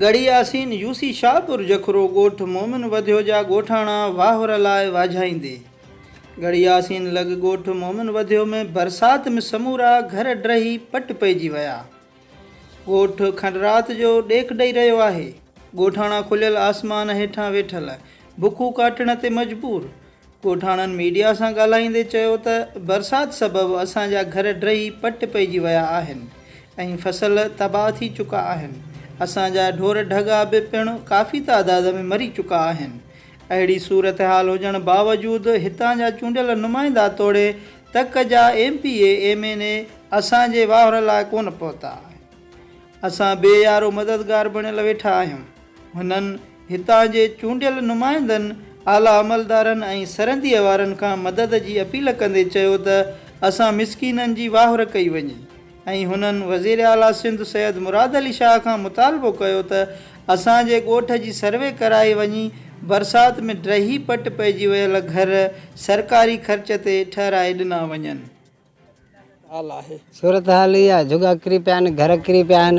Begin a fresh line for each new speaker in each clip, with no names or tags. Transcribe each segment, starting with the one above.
Garhi Yasin UC Shahpur Jakhro ڳوٺ مومن وڌيو جا ڳوٺاڻا واهور لاء واجهائيندي ڳڙهي ياسين لڳ ڳوٺ مومن وڌيو ۾ برسات م سمورا گهر ڊهي پٽ پئجي ويا ڳوٺ کن رات جو ڏيک ڏئي رهيو آهي ڳوٺاڻا کليل آسمان هيٺان ويٺل بکون ڪاٽڻ تي مجبور ڳوٺاڻن ميڊيا سان ڳالهائيندي چيو ته برسات سبب اسان جا گهر ڊهي پٽ پئجي ويا آهن ۽ فصل تباهه ٿي چڪا آهن، اسان جا ڍور ڍڳا به پڻ ڪافي تعداد ۾ مري چڪا آهن، اهڙي صورتحال هجڻ باوجود هتان جا چونڊيل نمائندا توڙي تڪ جا M P A, M N A اسان جي واهر لاء ڪونه پهتا آهن، اسان بي يارو مددگار بڻيل ويٺا آهيون. هنن هتان جي چونڊيل نمائندن، اعليٰ عملدارن ۽ سرحديء وارن کان مدد جي اپيل ڪندي چيو ته اسان مسڪينن جي واهر ڪئي وڃي ۽ هنن وزيراعليٰ سنڌ سيد مراد علي شاهه کان مطالبو ڪيو ته اسان جي ڳوٺ جي سروي ڪرائي وڃي برسات ۾ ڊهي پٽ پئجي ويل گهر سرڪاري خرچ تي ٺهرائي ڏنا وڃن. صورتحال اها آهي
جهڳا ڪري پيا آهن گهر ڪري پيا آهن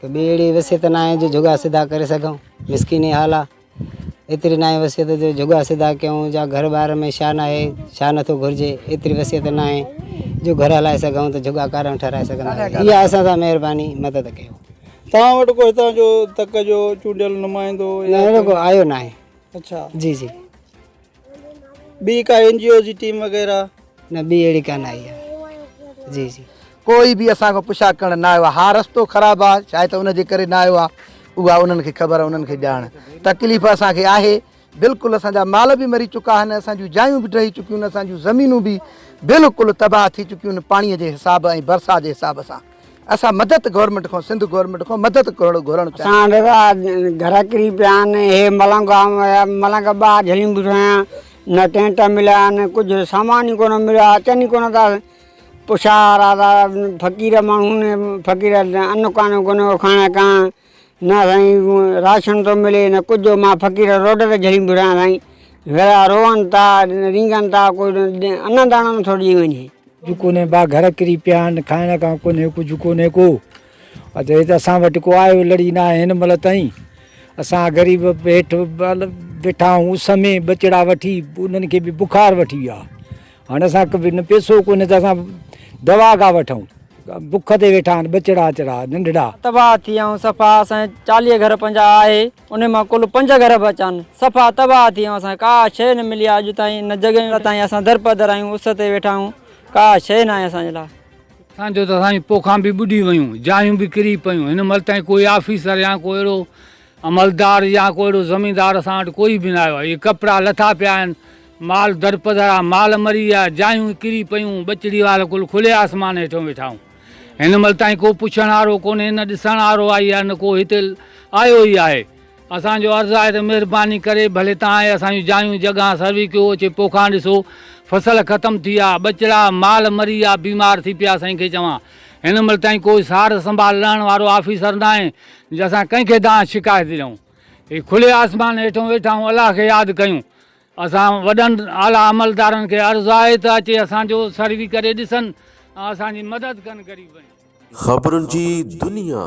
ته ٻي اهڙي وصيت نه آهي جو جهڳا سڌا ڪري سگهون مسڪيني حال آهي ايتري نه آهي وصيت جو جهڳا سڌا ڪيون جا گهر ٻار ۾ شا نه آهي شا نٿو گهرجي ايتري وصيت نه آهي جو گهر هلائي سگهون ته جهڳا ڪارڻ ٺهرائي سگهنداسين اها اسان سان مهرباني مدد ڪيو توهان وٽ ڪو
هتان جو تڪ جو چونڊيل نمائندو نه اهڙو ڪو آيو
ناهي اڇا جي جي.
ٻي ڪا اين جي او جي ٽيم وغيره. نه ٻي اهڙي
ڪانه آئي آ جي جي. ڪوئي به اسان کان
پڇا ڪرڻ نه آيو آ ها رستو خراب آ شايد ته ان جي ڪري نه آيو آ اها انهن کي خبر انهن کي ڄاڻ تڪليف اسان کي آهي بلڪل اسان جا مال به مري چڪا آهن اسان جون جايون به ڊهي چڪيون آهن اسان جون زمينون به بلڪل تباهه ٿي چڪيون آهن پاڻي جي حساب ۽ برسات جي حساب سان. اسان مدد گورنمينٽ کان سنڌ گورنمينٽ کان مدد گهرڻ چاهيون ٿا. اسان ڏاڍا گهر
ڪري پيا آهن هي ملنگ گام ويا ملنگ ٻه جهلين به ٺهيا نه ٽينٽ مليا آهن ڪجهه سامان ئي ڪونه مليو آهي اچن ئي ڪونه ٿا پڇا وارا فقير ماڻهو فقير ان ڪانه ڪونه کائڻ ڪانه نه سائين راشن ٿو ملي نه ڪجهه مان فقير روڊ تي جهڙي به رهان سائين ويڙها روئن ٿا رينگن ٿا ڪو انا داڻو نٿو ڏئي وڃي. ڪجهه ڪونهي ڀا گهر
ڪري پيا آهن کائڻ کان ڪونهي ڪجهه ڪونهي ڪو اچ هت اسان وٽ ڪو آيو لڙي ناهي هن مهل تائين اسان غريب هيٺ ويٺا آهيون اس ۾ ٻچڙا وٺي انهن کي به بخار وٺي ويو آهي هاڻي اسان کي نه پيسو ڪونهي ته اسان دوا ڪا وٺون. بک تي ويٺا آهن ٻچڙا اچڙا ننڍڙا. تباهه ٿي ويا آهيون
صفا اسان جي چاليهه گهر پنجاهه آهي انهي مان ڪل پنج گهر به اچا آهن صفا تباهه ٿي ويا آهيون اسان کي ڪا شيء نه ملي آهي اڄ تائين نه جڳهيون تائين اسان درپدر آهيون اس تي ويٺا آهيون ڪا شيء ناهي اسان جي لاء. اسان جون ته اسان
جون پوکان به ٻڏي ويون جايون به ڪري پيون هن مهل تائين ڪوئي آفيسر يا ڪو اهڙو عملدار يا ڪو اهڙو زميندار اسان وٽ ڪوئي به نه آيو آهي. اهي ڪپڙا لٿا پيا آهن، مال درپدر آ، مال مري ويا، جايون ڪري پيون، ٻچڙي وار ڪل کلي آسمان هيٺيون ويٺا آهون. هن مهل تائين ڪو پڇڻ وارو ڪونهي، نه ڏسڻ وارو آئي آهي، نه ڪو هتي آيو ئي آهي. اسان جو عرض آهي ته مهرباني ڪري ڀلي توهان اهي اسان جون جايون جڳهان سروي ڪيو، اچي پوکان ڏسو. فصل ختم ٿي ويا، ٻچڙا، مال مري ويا، بيمار ٿي پيا، سائين کي چوان. هن مهل تائين ڪو سار سنڀال لهڻ وارو آفيسر ناهي، جو اسان ڪنهن کي دانهن شڪايت ڏيون، هي کلي آسمان هيٺون ويٺا آهيون الله کي ياد ڪيون، اسان وڏن اعليٰ عملدارن کي عرض آهي ته اچي اسان جو سروي ڪري ڏسن ۽ اسان جي مدد ڪن غريبن جي. خبرن جي
دنيا.